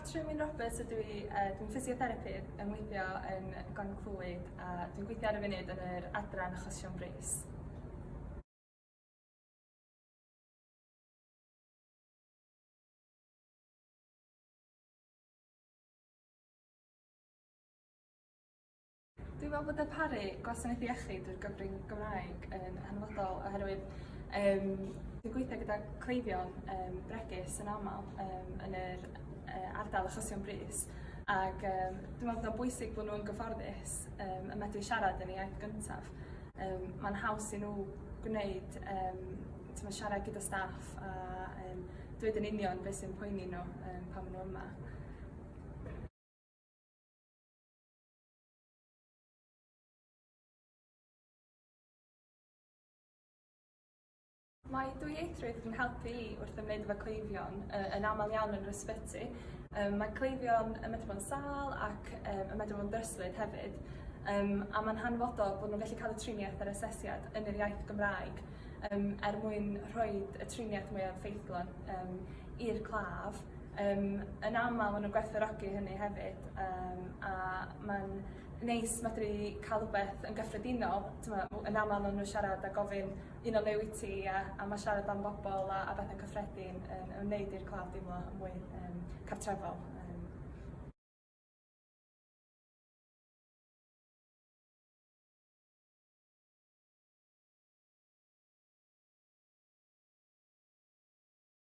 Catrin Wyn Roberts ydw i, uh, dwi'n physiotherapydd yn weithio yn Glan Clwyd a dwi'n gweithio ar y funud yn yr adran achosion brys. Dwi'n meddwl bod darparu gwasanaeth iechyd drwy'r gyfrwng Gymraeg yn hanfodol oherwydd um, dwi'n gweithio gyda cleifion um, bregus yn aml um, yn yr uh, ardal achosion brys ac um, dwi'n meddwl bod o'n bwysig bod nhw'n gyfforddus um, y medru siarad yn ei iaith gyntaf. Um, Mae'n haws i nhw gwneud um, tyma, siarad gyda staff a um, dweud yn union beth sy'n poeni nhw um, pan maen nhw yma. Mae dwyieithrwydd yn helpu i wrth ymwneud efo cleifion uh, yn aml iawn yn yr ysbyty. Um, mae cleifion yn medru bod yn sal ac um, yn medru bod yn ddryslyd hefyd. Um, a mae'n hanfodol bod nhw'n gallu cael y triniaeth a'r asesiad yn yr iaith Gymraeg um, er mwyn rhoi y triniaeth mwyaf ffeithlon um, i'r claf Yym yn amal ma' nw'n gwerthfawrogi hynny hefyd yym a ma'n neis medru ca'l wbeth yn gyffredinol t'mo' w- yn amal ma' n'w siarad a gofyn un o fe wyt ti a a ma' siarad am bobol a a bethe cyffredin yn yn neud i'r claf deimlo yn mwy yym cartrefol yym.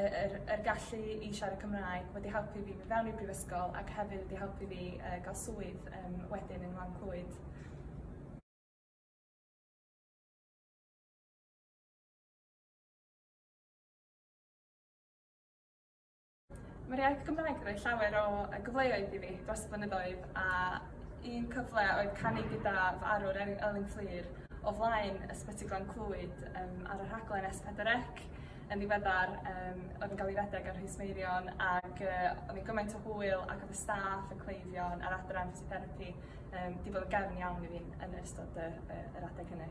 yr yr gallu i siarad Cymraeg wedi helpu fi mynd fewn i'r brifysgol ac hefyd wedi helpu fi yy ga'l swydd yym wedyn yn Wlad Clwyd. Ma'r iaith Gymraeg 'di roi llawer o yy gyfleoedd i fi dros y blynyddoedd a un cyfle oedd canu gyda fy arwr Elin Elin Fflur o flaen Ysbyty Glan Clwyd yym ar y rhaglen Es Pedwar Ec. yn ddiweddar yym oedd yn cael ei redeg ar Rhys Meirion ac yy o'n i gymaint o hwyl ac oedd y staff, y cleifion a'r adran ffisio-therapi yym 'di bod yn gefn iawn i fi yn ystod y y yr adeg hynny.